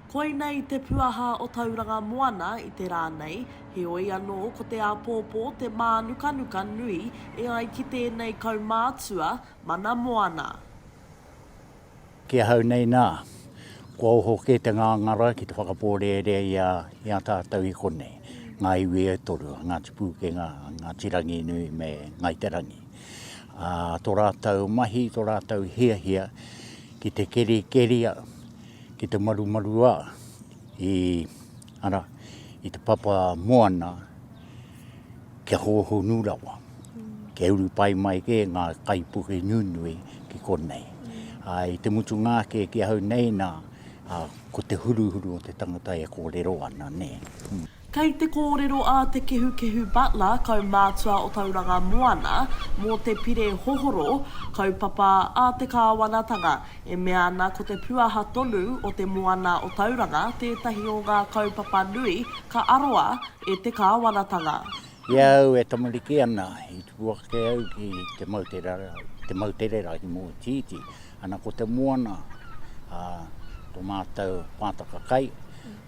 Koinei te puaha o Tauranga Moana i te rā nei, heoi anō ko te āpōpō te mānukanuka nui e ai ki tēnei kaumātua mana moana. Ki ahau nei nā, kua oho kē te ngāngara ki te whakapōrearea i a, i a tātou i konei, ngā iwi e toru, a Ngāti Pūkenga, a Ngāti Ranginui me Ngāi Te Rangi. Ā, tō rātou mahi, tō rātou hiahia ki te kerikeria, ki te marumaruā i, ara, i te papa moana, kia hōhonu rawa, kia uru pai mai kē ngā kaipuke nunui ki konei. Ā, i te mutunga ake ki ahau nei, nā, ā, ko te huruhuru o te tangata e kōrero ana, nē. Kei te kōrero a Te Kehukehu Butler, kaumātua o Tauranga Moana, mō te pire hohoro, kaupapa a te kāwanatanga, e mea ana ko te puaha tonu o te moana o Tauranga tētahi o ngā kaupapa nui ka aroa E te kāwanatanga. I a au e tamariki ana, i tupu ake au ki te moutere, te moutere rahi mōtiiti. Ana ko te moana, a, to mātou pātaka kai,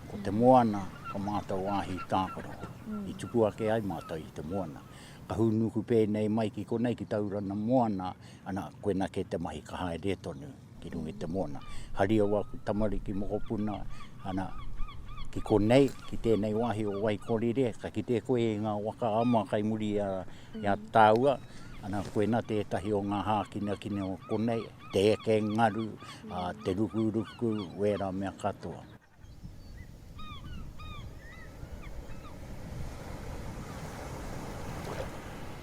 ko te moana, ko mātou wāhi tākaro. I tupu ake ai mātou i te moana. Ka hūnuku pēnei mai ki konei ki Taurana moana, ana, koina kē te mahi ka haere tonu. ki runga i te moana. Hari au aku tamariki mokopuna, ana, ki konei, ki tēnei wāhi o Waikorire, ka kite koe i ngā waka a mua kai muri i a, i a tāua, ana, koina tētahi o ngā hākinakina o konei, te eke ngaru, a, te rukuruku, wērā mea katoa.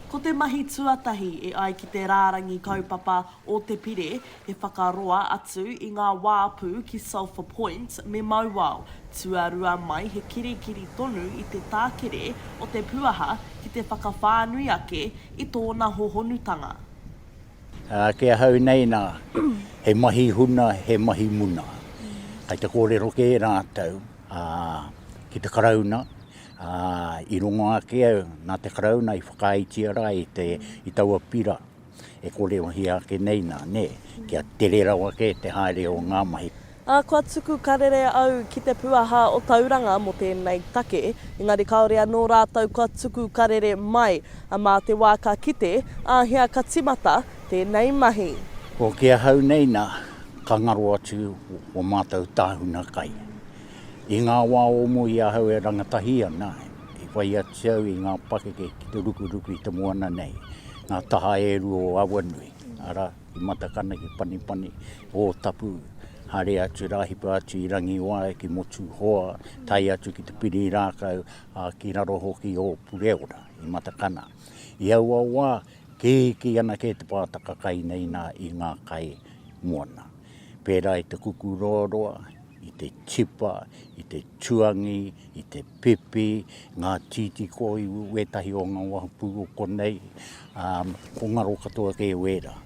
Ko te mahi tuatahi e ai ki te rārangi kaupapa o te pire he whakaroa atu i ngā wāpu ki Sulphur Point me Mauao, tuarua mai he kirikiri tonu i te tākere o te puaha ki te whakawhānui ake i tōna hohonutanga. Ā, ki ahau nei, nā, he mahi huna, he mahi muna. Kei te kōrero kē rātou, ā, ki te Karauna, ā, i rongo ake au, nā te Karauna i whakaaetia rā i te, i taua pira e kōrerohia ake nei nā, nē, kia tere rawa kē te haere o ngā mahi. Ā, kua tuku karere au ki te puaha o Tauranga mō tēnei take, engari kāore anō rātou kua tuku karere mai. Ā, mā te wā ka kite, āhea ka timata tēnei mahi. Ko ki ahau nei nā, ka ngaro atu o mātou tāhuna kai. I ngā wā o mua i ahau e rangatahi ana, i whai atu au i ngā pakeke ki te rukuruku i te moana nei, ngā taha e rua o Awanui, arā, Ki Matakana, ki Panipani, Ōtapu, haere atu rā, hipa atu i Rangiwae, ki Motuhoa, tae atu ki Te Pirirākau, ā, ki raro hoki o Pureora, i Matakana. I aua wā, kīkī ana kē te pātaka kai nei nā i ngā kai moana. Pērā i te kukurōroa, i te tipa, i te tuangi, i te. Pepe, ngā tītī koi, wētahi o ngā wahapū o konei, ā, ko ngaro katoa kē wērā.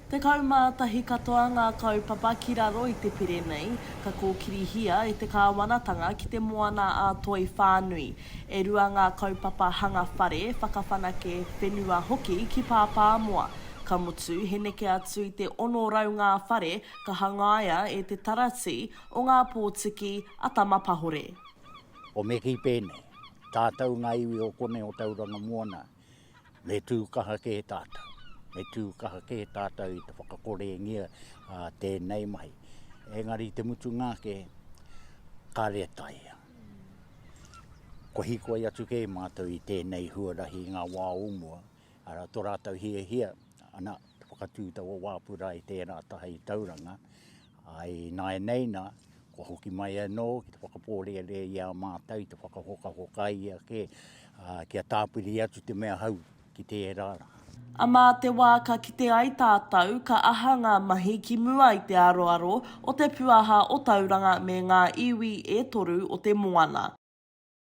Tekau mā tahi katoa ngā kaupapa ki raro i te pire nei, ka kōkirihia e te kāwanatanga ki te moana ā-toi whānui. E rua ngā kaupapa hanga whare, whakawhanake whenua hoki ki Pāpāmoa. Ka mutu, he neke atu i te ono rau ngā whare ka hangaia e te Taratī O ngā pōtiki a Tama Pahore. O Meki pēnei, Tātou ngā iwi o konei o Tauranga Moana, me tū kaha kē tātou. Me tū kaha kē tātou i te whakakorengia a tēnei mahi. Engari i te mutunga ake, kāre e taea. Kua hikoi atu kē mātou i tēnei huarahi i ngā wā o mua, arā tō rātou hiahia, ana, te whakatū taua wā purā i tērā taha i Tauranga, I nāianei nā, kua hoki mai anō ki te whakapōrearea i a mātou i te whakahokahoka i ia kē, ā, kia tāpiri atu te mea hou ki tērā rā. A mā te wā ka kite ai tātou, ka aha ngā mahi ki mua i te aroaro o te puaha o Tauranga me ngā iwi e toru o te moana?